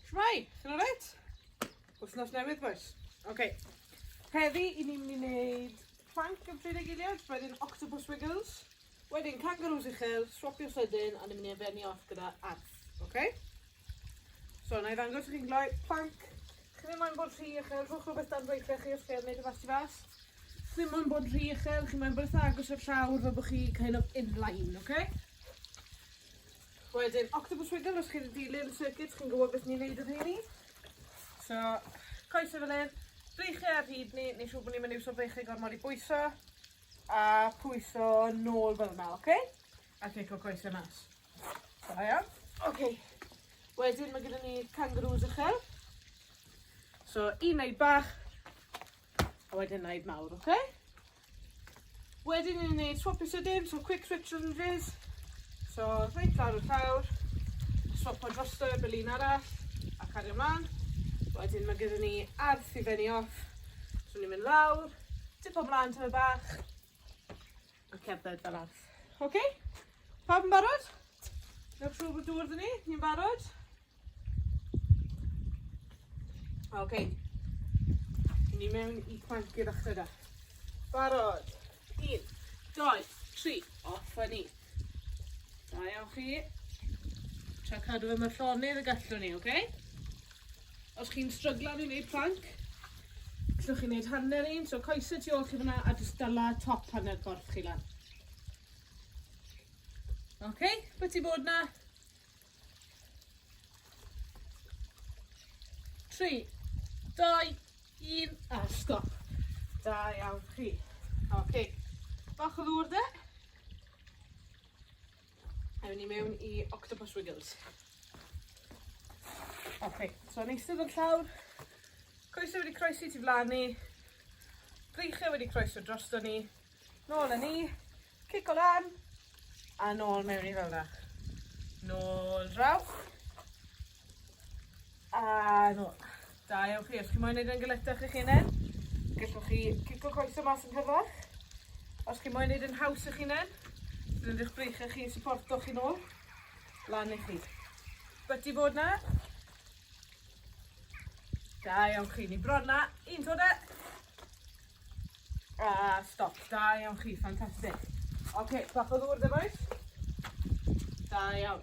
Shwmai, chi'n alright? Wthnos newydd, boys. Oce. Okay. Heddi, i ni'n mynd i wneud plank yn pryd eiliad, wedyn octopus wiggles, wedyn kangaroos uchel, swapio sydyn, a ni'n mynd i efenni off gyda arth, oce? Okay? So, na i ddangos i chi'n gloi, plank, chi ddim moyn bod rhy uchel, rhwch rhywbeth dan weithiau chi os chi ar wneud y fas i fas. Chi ddim moyn bod rhy uchel, chi moyn bod eitha agos o'r llawr fel bod chi kind of in line, oce? Okay? Wedyn octopus wiggle os chi 'di dilyn y circuit chi'n gwybod beth ni'n neud y rheini. So coese fel hyn, breichiau ar hyd ni, neu siŵr bod ni'n mynd iwso breichiau gormod i bwyso, a pwyso nôl fel yna, oce? Okay? A cico coese mas. Da iawn. Oce. Okay. Wedyn mae gyda ni kangaroos uchel. So un neu bach, A wedyn na i mawr, oce? Okay? Wedyn ni'n neud swap eisiau dim, so quick switch yn fizz. So, reit lawr y llawr, swap o drosto i'r bylun arall, a cario mlaen. Wedyn mae gyda ni arth i fenni off. So ni'n mynd lawr, tip o mlaen tyma bach, A cerdded fel arth. Oce? Okay? Pawb yn barod? Newch siŵr bod dŵr dyn ni? Ni'n barod? Oce. Okay. Ni mewn i planc i ddechrau da. Barod. Un, doi, tri. Off a ni. Da iawn chi. Tra cadw fe mae llonydd y gallwn ni, oce? Okay? Os chi'n stryglan i wneud plank, gallwch chi wneud hanner un, so coesau tu ôl chi fyna a jyst dyla top hanner corff chi lan. Oce, okay, beth ti bod na? Tri, dau, un, a stop. Da iawn chi. Oce, okay. bach o ddŵr de. Ewn ni mewn i Octopus Wiggles. Ok, so yn eistedd o'r llawr, coesau wedi croesi tu flan ni, breichiau wedi croeso drosto ni, nôl yn ni, cic o lan, a nôl mewn i fel yna. Nôl draw, A do. Da iawn chi. Os chi moyn neud e'n galetach eich hunen, gellwch chi cico coese mas yn rhyfedd. Os chi moyn neud e'n haws i'ch hunen, roid eich breiche chi i syporto chi nôl, lan i chi. Byti bod 'na. Da iawn chi. Ni bron 'na. Un to 'da. A stop. Da iawn chi. Ffantastig. Oce, bach o ddŵr 'da bois? Da iawn.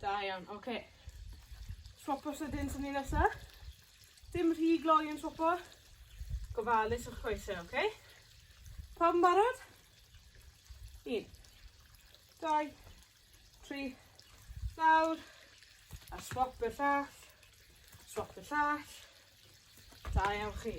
Da iawn, oce. Okay. Swopo sydyn sy'n ni nesa. Dim rhy gloi yn swopo. Gofalus o'ch coesau, oce? Okay? Pawb yn barod? Un. Dau. Tri. Nawr. A swop i'r llall. Swop i'r llall. Da iawn chi.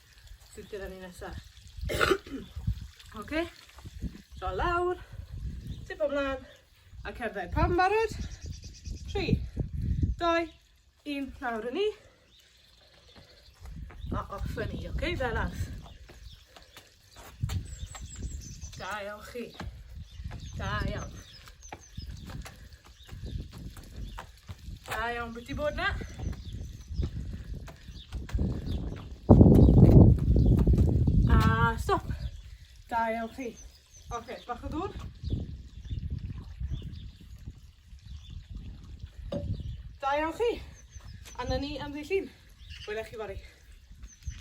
sydd gyda ni nesa. Oce? Draw lawr, tipo mlan, a cerdded. Pawb yn barod? 3, 2, 1, lawr yn ni. A off yn ni, oce? Fel as. Da iawn chi. Da iawn. Da iawn, beth di bod na? A stop. Da iawn chi. Oce, okay, bach o ddŵr. Da iawn chi. A na ni am ddi llun. Wela chi fory.